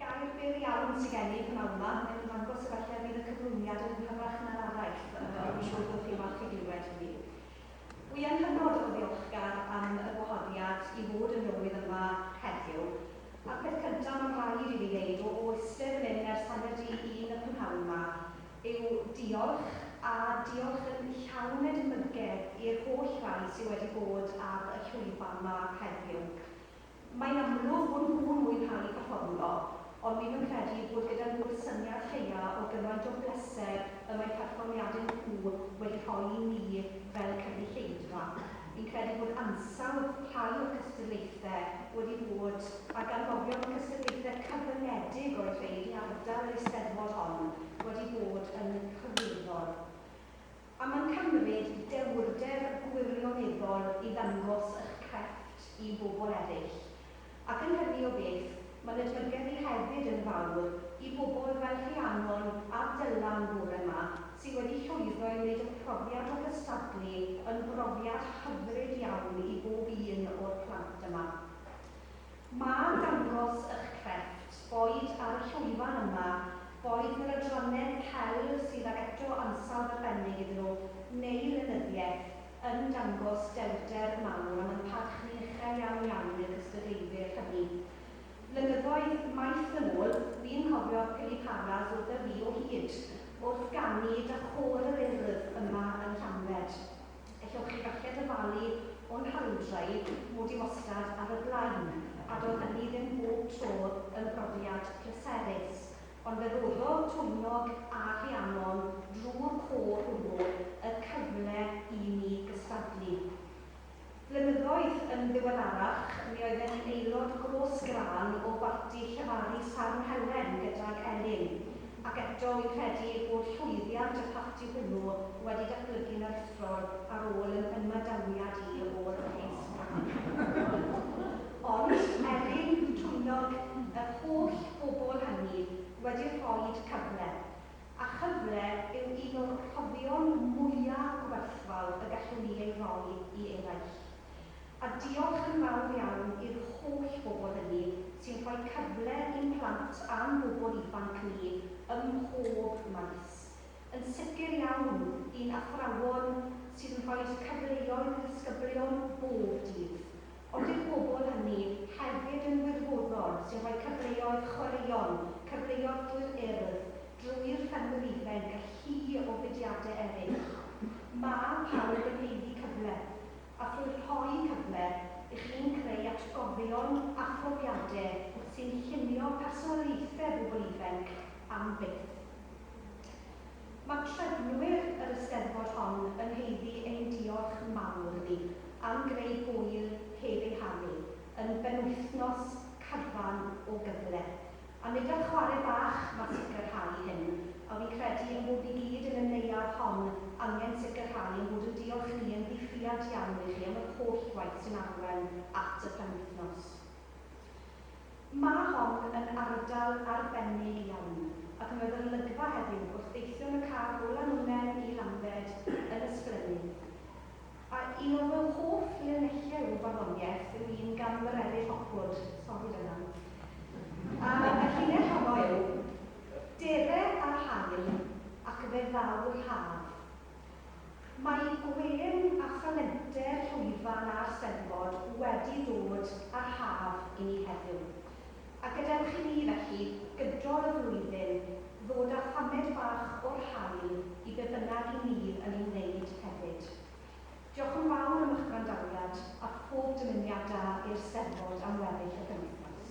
Gair byr iawn sy gen i, p'nawn 'ma, mae'n ymddangos efallai bydd y cyflwyniad yn hygyrach na'r araill, ond dwi'n siŵr bod chi'n falch i glywed hynny. Wi yn hynod o ddiolchgar am y gwahoddiad i fod yn Lywydd yma heddiw, a'r peth cyntaf mae'n rhaid i fi wneud, o eistedd fan hyn ers hanner di un y prynhawn 'ma, yw diolch, a diolch yn llawn edmygedd i'r holl rai sy wedi bod ar y llwyfan 'ma heddiw. Mae'n amlwg bod nhw'n mwynhau perfformio, ond dwi'm yn credu bod gyda nhw'r syniad lleia o gymaint o bleser y mae perfformiadau nhw wedi rhoi i ni fel cynulleidfa. Fi'n credu bod ansawdd rhai o'r cystadlaethau wedi bod, a ganmolion y cystadlaethau cyfyngedig oedd rhein i ardal yr Eisteddfod hon, wedi bod yn hyrwyddol. A mae'n cymryd dewrder gwirioneddol i ddangos eich crefft i bobl eraill. Ac yn hynny o beth, mae'n edmygedd i hefyd yn fawr i bobl fel Rhiannon a Dylan bore 'ma, sydd wedi llwyddo i wneud y profiad o gystadlu yn brofiad hyfryd iawn i bob un o'r plant yma. Mae dangos ych crefft, boed ar y llwyfan yma, boed yn yr adrannau celf sydd ag eto ansawdd arbennig iddyn nhw, neu lenyddiaeth, yn dangos dewrder mawr a mae'n parch ni uchel iawn iawn i'r cystadleuydd hynny. Blynyddoedd maith yn ôl, fi'n cofio Piliparas wrtha fi o hyd, wrth ganu 'da Chôr yr Urdd' yma yn Llanbed. Ewch chi falle ddyfalu o'n hawldrau mod i wastad ar y blaen, a doedd hynny ddim bob tro yn brofiad pleserus, ond fe roddodd Twymnog a Rhiannon drwy'r côr hwnnw y cyfle i mi gystadlu. Flynyddoedd yn ddiweddarach, mi oedden ni'n aelod gros-grân o barti llefaru Sarn Helen gydag Elin, Ac eto, wi'n credu bod llwyddiant y parti hwnnw wedi datblygu'n aruthrol ar ôl yn ymadawiad i ôl y Case Mccarthy. Ond, Elin, Twnog, yr holl bobl hynny wedi rhoid cyfle, a chyfle yw un o'r rhoddion mwya' gwerthfawr y gallwn ni ei roi i eraill. A diolch yn fawr iawn i'r holl bobl hynny sy'n rhoi cyfle i'n plant a'n bobl ifanc ni ym mhob maes. Yn sicr iawn, i'n athrawon sydd yn rhoi cyfleoedd i ddisgyblion bob dydd, ond i'r bobl hynny hefyd yn wirfoddol sy'n rhoi cyfleoedd chwaraeon, cyfleoedd drwy'r Urdd, drwy'r Ffermwyr Ifainc a llu o fudiadau eraill. Mae pawb yn haeddu cyfle. a thrwy rhoi cyfle i chi'n creu atgofion a phrofiadau wrth sy'n llunio personoliaethau bobl ifainc am byth. Mae trefnwyr yr Eisteddfod hon yn haeddu ein diolch mawr iddi am greu hwyl heb ei haru, yn benwythnos cadfan o gyfle. A nid ar chwarae bach mae sicrhau hyn, a wi'n credu ein bod ni gyd yn y neuadd hon angen sicrhau ein bod yn diolch ni yn ddi-ffiad iawn i chi am yr holl waith sy'n arwain at y penwythnos. Mae hon yn ardal arbennig iawn, ac mi oedd yr olygfa heddiw wrth deithio yn y car o Lanwnnen i Lanbed yn ysblennydd. A un o fy hoff linellau o farddoniaeth yw un gan Mererid Hopwood, sori Dylan. A y llinell honno yw, Dere a'r haul ac fe ddaw'r haf. Mae gwên a thalentau'r llwyfan a'r Steddfod wedi dod â'r haf i ni heddiw. A gadewch i ni, felly, gydol y flwyddyn, ddod â thamed bach o'r haul i be bynnag 'y ni yn ei wneud hefyd. Diolch yn fawr am eich gwrandawiad, a phob dymuniad da i'r Steddfod am weddill y penwythnos.